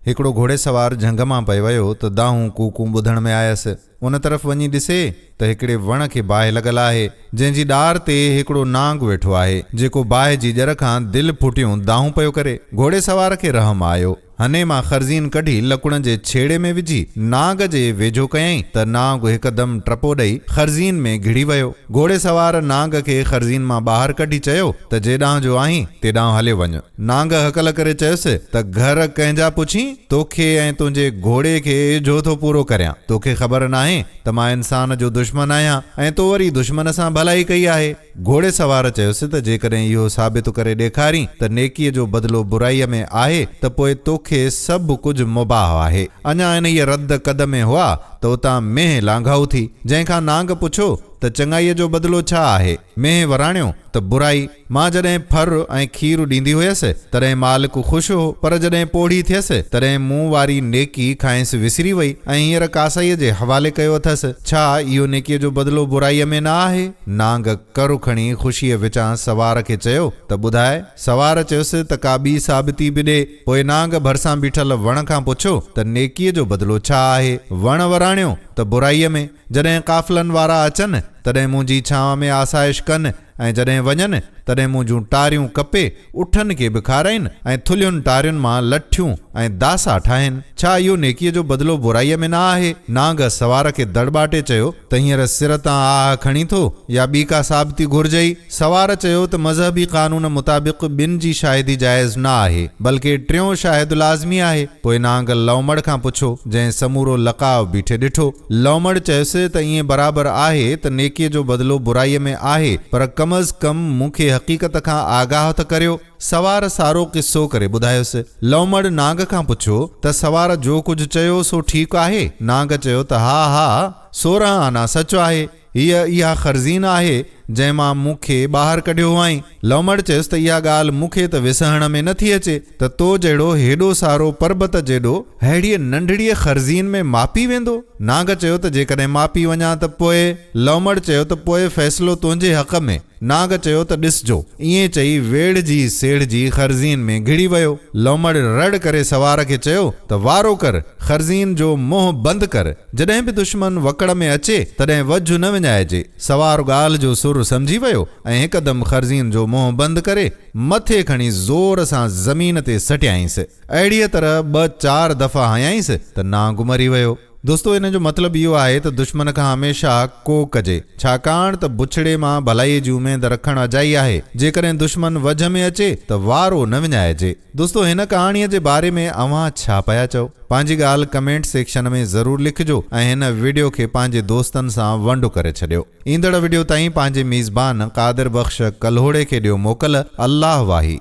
هڪڙو گهوڙي سوار جهنگ مان پئي ويو ته دانهون ڪوڪون ٻڌڻ ۾ آيس. ان طرف وڃي ڏسي ته هڪڙي وڻ کي باهه لڳل آهي، جنهن جي ڏار تي هڪڙو نانگ ويٺو آهي، جيڪو باهه جي ڄر کان دل ڦٽيون دانهون پيو ڪري. گهوڙي سوار کي رحم آيو. هنئين مان خرزين ڪڍي لڪڻ جي ڇيڙي ۾ وجهي نانگ جي ويجهو ڪيائين ته نانگ هڪدم ٽپو ڏئي خرزين ۾ گهڙي ويو. گهوڙي سوار نانگ کي خرزين مان ٻاهر ڪڍي چيو ته جيڏانهن جو آهين تيڏانهن هليو وڃ. نانگ هڪل ڪري چيس ته گهر ڪنهن جا پڇين؟ توکي ۽ تنهنجي گهوڙي کي ايجهو ٿو پورو ڪريان. توکي خبر ناهي ته مان انسان جو دشمن آهيان ۽ تو وري دشمن سان ڀلائي ڪئي آهي. گهوڙي سوار چيس ته جيڪڏهن اهو ثابت ڪري ڏيکارين ته نيڪيء جو بدلو برائيء ۾ آهي ته پوء توکي سڀ ڪجهه مباح آهي. اڃا انهيء رد قد ۾ هئا ته اتان مينهن لانگهائو ٿي، جنهن کان نانگ پڇيو ته چڱائيء جو بدلو ڇا آهي؟ مينهن وراڻيو ته برائي، مان جڏهن ڦر ۽ کير ڏيندي هيس، تڏهن مالڪ خوش هو، پر جڏهن پوڙهي ٿيس، تڏهن مون واري نيڪي کانئس وسري وئي ۽ هينئر ڪاسائيء جي حوالي ڪيو اٿس. ڇا اهو نيڪيء جو بدلو برائيء ۾ نه آهي؟ نانگ ڪر کڻي خوشيء وچان سوار کي چيو ته ٻڌاء. سوار چيس ته ڪا ٻي ثابتي به ڏي. پوء نانگ ڀرسان بيٺل وڻ کان پڇيو ته نيڪيء جو بدلو ڇا آهي؟ وڻ وراڻيو ته برائيء ۾. جڏهن قافلن وارا اچن، تڏهن منهنجي ڇانو ۾ آسائش ڪن ۽ جڏهن وڃن، تڏهن منهنجون ٽاريون ڪپي، اٺن کي به کارائين ۽ ٿلهين ٽارين مان لٺيون ۽ داسا ٺاهين. ڇا اهو نيڪيء جو بدلو برائيء ۾ نه آهي؟ نانگ سوار کي دڙٻاٽي چيو ته هينئر سر تان آهه کڻين ٿو يا ٻي ڪا ثابتي گهرجئي؟ سوار چيو ته مذهبي قانون مطابق ٻن جي شاهدي جائز نه آهي، بلڪه ٽيون شاهد لازمي آهي، پوء نانگ لومڙ کان پڇو، جنهن سمورو لقاء بيٺي ڏٺو. لومڙ چيس ته ائين برابر آهي ته نيڪيء جو بدلو برائيء ۾ آهي، پر ڪم از ڪم مون کي حقيقت کان آگاهه ته ڪريو. سوار سارو قصو ڪري ٻڌايس. لومڙ نانگ کان پڇو ته سوار جو ڪجهه چيو سو ٺيڪ آهي؟ نانگ چيو ته ها ها، سورهن آنا سچ آهي. هيء اها خرزين آهي، جنهن مان مون کي ٻاهر ڪڍيو هئائين. لؤمڙ چيس ته اها ڳالهه مون کي ته وسهڻ ۾ نه ٿي اچي ته تو جهڙو هيڏو سارو پربت جيڏو ههڙيء ننڍڙيء خرزين ۾ ماپي ويندو؟ نانگ چيو ته جيڪڏهن ماپي وڃان ته پوء؟ لؤمڙ چيو ته پوء فيصلو تنهنجي حق ۾. نانگ چيو ته ڏسجو. ائين چئي ويڙهجي سيڙهجي خرزين ۾ گهڙي ويو. لومڙ رڙ ڪري سوار کي چيو ته وارو ڪر، خرزين جو منهن بند ڪر. جڏهن به دشمن وڪڙ ۾ اچي، تڏهن وجهه نه وڃائجي. سوار ڳالهه جو سر سمجهي ويو ۽ هڪدم خرزين جو منهن بند ڪري، مٿي کڻي زور سان زمين تي سٽيائينس. اهڙيء طرح ٻه چار دفعا هنيائينس ته نانگ مري ويو. دوستو ان جو مطلب اهو آهي ته دشمن کان هميشه ڪو ڪجي ڇاڪاڻ ته بڇڙي مان ڀلائي جي اميد رکڻ اجائي آهي جيڪڏهن دشمن وجهه ۾ اچي ته وارو نه وڃائجي. دوستو هن ڪهاڻي جي باري ۾ اوهان ڇا پيا چئو پنهنجي ڳالهه ڪمينٽ سيڪشن ۾ ضرور لکجو ۽ هن وڊيو کي پنهنجي دوستن سان ونڊ ڪري ڇڏيو ايندڙ وڊيو تائين پنهنجي ميزبان قادر بخش ڪلهوڙي کي ڏيو موڪل الله واهي.